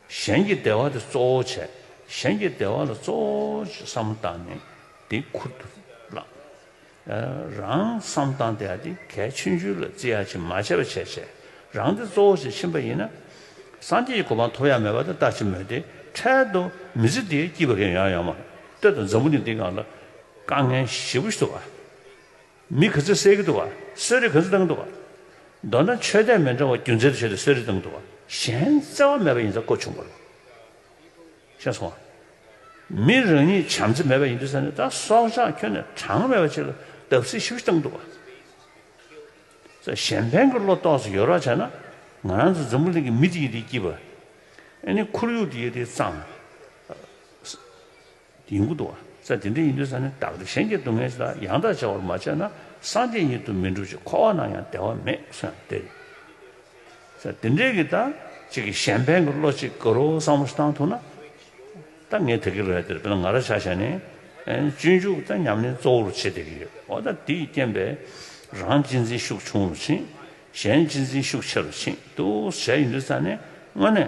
གཞན་གྱི་བདེ་བ་དེ་གཙོ་བོ་བྱས། གཞན་གྱི་བདེ་བ་ལ་གཙོ་བོ་བསམ་སྟངས་ནི་དེ་ཁུར་དུ་བླངས། རང་བསམ་སྟངས་དེ་ཡང་དེ་གལ་ཆེ་འཇུག་ལ་བརྩི་ཡ་ཆེ་མ་བྱས་པ་བྱས་བྱས་རང་དེ་གཙོ་བོ་ཞིག་ཕྱིན་པ་ཡིན་ན། སངས་རྒྱས་ཀྱི་གོ་འཕང་ཐོབ་ཡ་མེད་པ་དེ་ལྟ་ཅི་མོད་དེ་འཕྲལ་དུ་མི་ཚེ་འདིའི་སྐྱིད་པ་རེ་ཡོང་ཡོང་མ་ལྟོས་དང་འཛམ་བུ་གླིང་འདི་གང་ལ་དཀའ་ངལ་ཞི་བོ་ཞིག་ཐུབ་པ། མི་ག་ཚོད་བསད་ཀྱི་འདུག་བ། གསོད་རིགས་ག་ཚོད་བཏང་གི་འདུག་བ། མདོར་ན་ཆོས་དད་མི་འདྲ་བ་རྒྱུ་མཚན་དུ་བྱས་ཏེ་གསོད་རིགས་བཏང་གི་འདུག་བ། གཞན་བརྩེ་བ་མེད་པ་ཡིན་ས་ཀོ་ཆུང་པོ་རེད། ཤེས་སོང་བ། མི་རང་ཉིད་བྱམས་བརྩེ་མེད་པ་ཡིན་དུས་ས་ནས་ད་སྲོག་ཆགས་ཁྱོན་ནས་གྲངས་མེད་པ་ཆེ་ལ་བརྡབ་གསིག་ཤུགས་ཤིག་བཏང་གི་འདུག་བ། ས་གཞན་ཕན་གྱི་བློ་རྟོགས་སུ་ཡོད་རོགས་བྱས་ན། ང་རང་ཚོ་འཛམ་བུ་གླིང་གི་མི་དེ་ཡི་དེའི་སྐྱིད་པ། ཨ་ནི་ཁོར་ཡུག་དེ་ཡི་དེའི་གཙང། ཡིན་ཁུལ་དུ་བ་ཚྭ་དེ་འདྲ་ཡིན་དུས་ས་ནི་བདག་སྟེ་གཞན་གྱི་སྡུག་བསྔལ་ཞིག་ལ་ཡང་དག་བྱ་བར་མ་བྱས་ན་སངས་རྒྱས་ཉིད་དུ་མི་འགྲུབ་ཅིང་འཁོར་བ་ན་ཡང་བདེ་བ་མེད་སོ་ཡང་སྟེ། ཚྭ་དེ་འདྲས་ཀྱིས་ད་ཅིག་གིས་གཞན་ཕན་གྱི་བློ་གཅིག་བསྐུར་རོ་བསམ་བློ་བཏང་ཐུབ་ན། ད་ངས་དེ་གའི་རལ་དེར་བོད་ལ་ང་ར་བྱ་བྱས་ནས་སྤྱོད་འཇུག་ད་ཉམས་ལེན་གཙོ་བོར་བྱེད་བསྡད་ཀྱི་ཡོད་འོ་ད་དེའི་རྐྱེན་པས་རང་གཅེས་འཛིན་ཤུགས་ཆུང་རུ་ཕྱིན། གཞན་གཅེས་འཛིན་ཤུགས་ཆེ་རུ་ཕྱིན། དུ་བྱས་ཡིན་དུས་ས་ནི་དངོས་གནས།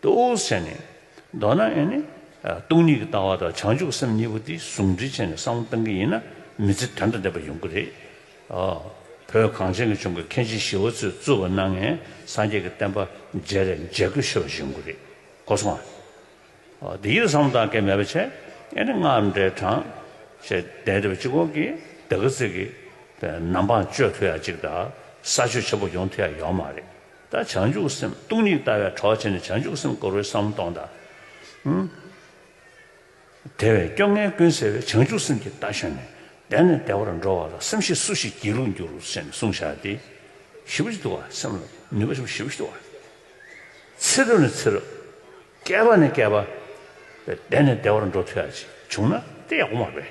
དུ་འོད་གསལ་ནི། མདོར་ན་ཡང་ནི། སྟོང་ཉིད་ཀྱི་ལྟ་བ་དང་བྱང་ཆུབ་སེམས་གཉིས་པོ་དེ་ཟུང་འབྲེལ་བྱས་ནས་བསམ་བློ་གཏང་གི་ཡིན་ན་མི་ཚེ་དོན་དང་ལྡན་པ་ཡོང་གི་རེད། བོད་གངས་ཅན་གྱི་ལྗོངས་ཀྱི་མཁན་ཆེན་ཞི་བ་འཚོས་གཙོས་པ་སྣང་ངེ་སངས་རྒྱས་ཀྱི་བསྟན་པ་མཇལ་རེ་མཇལ་དགོས་ཤེས་པ་ཞིག་ཡོང་གི་རེད་གོ་སོང་ང། འདི་ཡིད་ལ་བསམ་བློ་གཏང་མཁན་མེད་པ་ཆེ་ཡང་ནི་སྔགས་འདྲེ་གྲང། ཞེས་བསྡད་འདུག་པ་གཅིག་གོང་གི་སྡེ་དགེ་རྩེ་གི་ནམ་འཕང་གཅོད་ཐུབ་ཡག་ཅིག་དང་ས་ཆོས་ཆེན་པོ་ཡོང་ཐུབ་ཡག་ཡོག་མ་རེད། ད་བྱང་ཆུབ་སེམས་སྟོང་ཉིད་ལྟ་བའི་གྲོགས་བྱས་ནས་བྱང་ཆུབ་སེམས་བསྐོར་བའི་བསམ་བློ་གཏོང་དང། དེ་བས་སྐྱོ་ངལ་ཀུན་སེལ་བའི་བྱང་ཆུབ་སེམས་ཀྱི་རྟ་ཞོན་ནས་བདེ་ནས་བདེ་བར་འགྲོ་བ་ལ་སེམས་ཤེས་སུ་ཞིག་སྒྱིད་ལུག་འགྱུར་ཞེས་ནས་གསུང་བཞག་སྟེ། ཞི་བ་ཞིག་ཏུ་བ་སེམས་ལ་ནུས་པ་ཞིག་བ་ཞི་བ་ཞིག་ཏུ་བ། ཚེ་རབས་ནས་ཚེ་རབས། བསྐལ་པ་ནས་བསྐལ་པ། བདེ་ནས་བདེ་བར་འགྲོ་ཐུ་ཡག་ཅིག་བྱུང་ན་དེ་ཡག་པོ་མ་རེད།